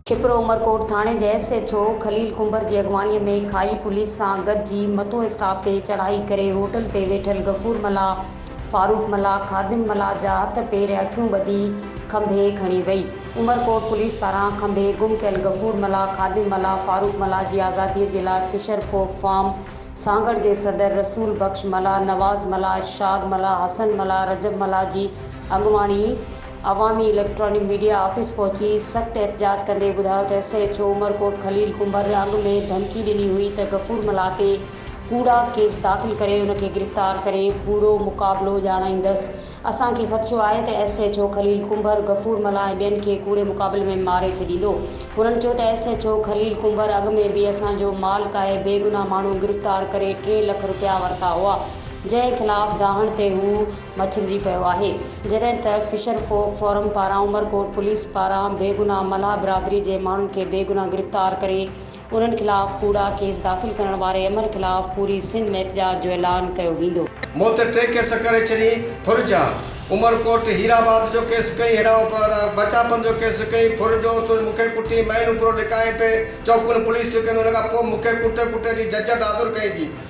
ڇپرو عمرڪوٽ ٿاڻي جي S H O Khalil Kumbhar جي اڳواڻي ۾ کاهي پوليس سان گڏجي مٿون اسٽاپ تي چڙهائي ڪري هوٽل تي ويٺل غفور ملاح، فاروق ملاح، خادم ملاح جا هٿ پير ۽ اکيون ٻڌي کنڀي کڻي وئي. عمرڪوٽ پوليس پاران کنڀي گم ڪيل غفور ملاح، خادم ملاح، فاروق ملاح جي آزادي جي لاء فشر فوڪ فارم، سانگهڙ جي صدر رسول بخش ملاح، نواز ملاح، ارشاد ملاح، حسن ملاح، رجب ملاح جي اڳواڻي عوامي اليڪٽرانڪ ميڊيا آفيس پهچي سخت احتجاج ڪندي ٻڌايو ته S H O Umerkot Khalil Kumbhar اڳ ۾ ڌمڪي ڏني هئي ته غفور ملاح تي ڪوڙا ڪيس داخل ڪري ان کي گرفتار ڪري ڪوڙو مقابلو ڄاڻائيندس اسان کي خدشو آهي ته S H O Khalil Kumbhar Ghafoor Mallah ۽ ٻين کي ڪوڙي مقابلي ۾ ماري ڇڏيندو. هنن چيو ته S H O Khalil Kumbhar اڳ ۾ به اسان جو مال ڪاهي بيگناهه ماڻهو گرفتار ڪري ٽي لک رپيا ورتا هئا جنهن خلاف ڊاهڻ تي هو مڇرجي پيو آهي جڏهن ته فشر فوڪ فورم پاران عمرڪوٽ پوليس پاران بيگناهه ملاح برادري جي ماڻهن کي بيگناهه گرفتار ڪري انهن خلاف ڪوڙا ڪيس داخل ڪرڻ واري عمل خلاف پوري سنڌ ۾ احتجاج جو اعلان ڪيو ويندو. مون تي ٽي ڪيس ڪري ڇڏين ڦر جا، عمر ڪوٽ هير آباد جو ڪيس ڪئين، هيرا بچاپن جو ڪيس ڪئين، ڦر جو سر مون کي ڪٽين، مئن اپرو لڪائين پئي، چوڪن پوليس ٿيو ڪيندو، ان کان پوء مون کي ڪٽي ڪٽي ٿي ججٽ حاضر ڪئين ٿي،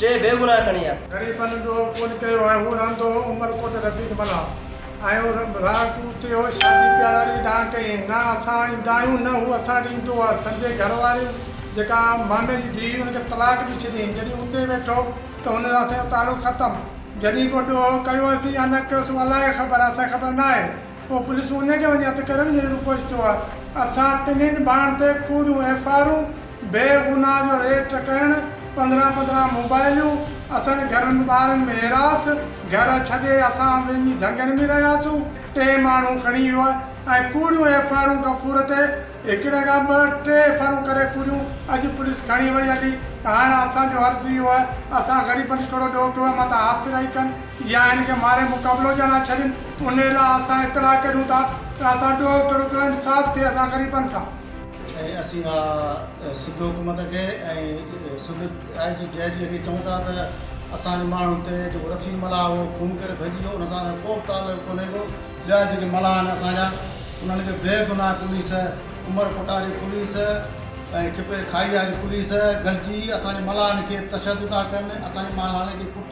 ٽي بيگناهه کڻي آ. غريبن ڏوهه ڪونه ڪيو ۽ هو رهندو هو عمرڪوٽ رفيق ملاح ۽ راهه ڪوتي هو شادي پياراري ڏانهن ڪئي نه اسان ايندا آهيون نه هو اسان ڏي ايندو آ سندي گهر واري جيڪا مامي جي ڌيء هئي ان کي طلاق ڏي ڇڏيائين جڏهن اتي ويٺو ته هن سان اسان جو تعلق ختم جڏهن ڪو ڏوهه ڪيوسين يا نه ڪيوسين اهو الائي خبر اسان کي خبر ناهي پوء پوليس انهي کي وڃي هٿ ڪرڻ جهڙي روپ وٺي ٿو. اسان ٽنهين ڀائن تي ڪوڙيون ايف آء آرون، بي گناهه جو ريڊ ٽڪائڻ، پندرهن پندرهن موبائلون، اسان جي گهرن ۾ ٻارن ۾ هيراس، گهر ڇڏي اسان وڃي جهنگن ۾ رهياسون، ٽي ماڻهو کڻي ويو آهي ۽ ڪوڙيون ايف آء آرون غفور تي هڪڙي کان ٻه ٽي ايف آء آرون ڪري ڪوڙيون اڄ پوليس کڻي وئي هلي. هاڻ اسان جو عرض اهو آهي اسان غريبن کي ڪهڙو ڏوهه پيو آهي متان هاڦ ڦرائي ڪن. يا هن کي ماري مقابلو ڄڻ ها ڇڏين، انهيء لاء اسان اطلاع ڪريون ٿا ته اسان ڏوهه ڪڙو ڪيو، انصاف ٿئي اسان غريبن سان. ۽ اسين اها سنڌ حڪومت کي ۽ سنڌ آء جي ڊي آء جي کي چئون ٿا ته اسان جي ماڻهن تي جيڪو رفيق ملاح هو خون ڪري ڀڄي ويو ان سان اسان جو ڪو به تعلق ڪونهي ڪو، ٻيا جيڪي ملاح آهن اسان جا انهن کي بي گناهه پوليس عمر ڪوٽا جي پوليس ۽ کپري کاهي واري پوليس گڏجي اسان جي ملاحن کي تشدد ٿا ڪن، اسان جي مالحن کي ڪٽ.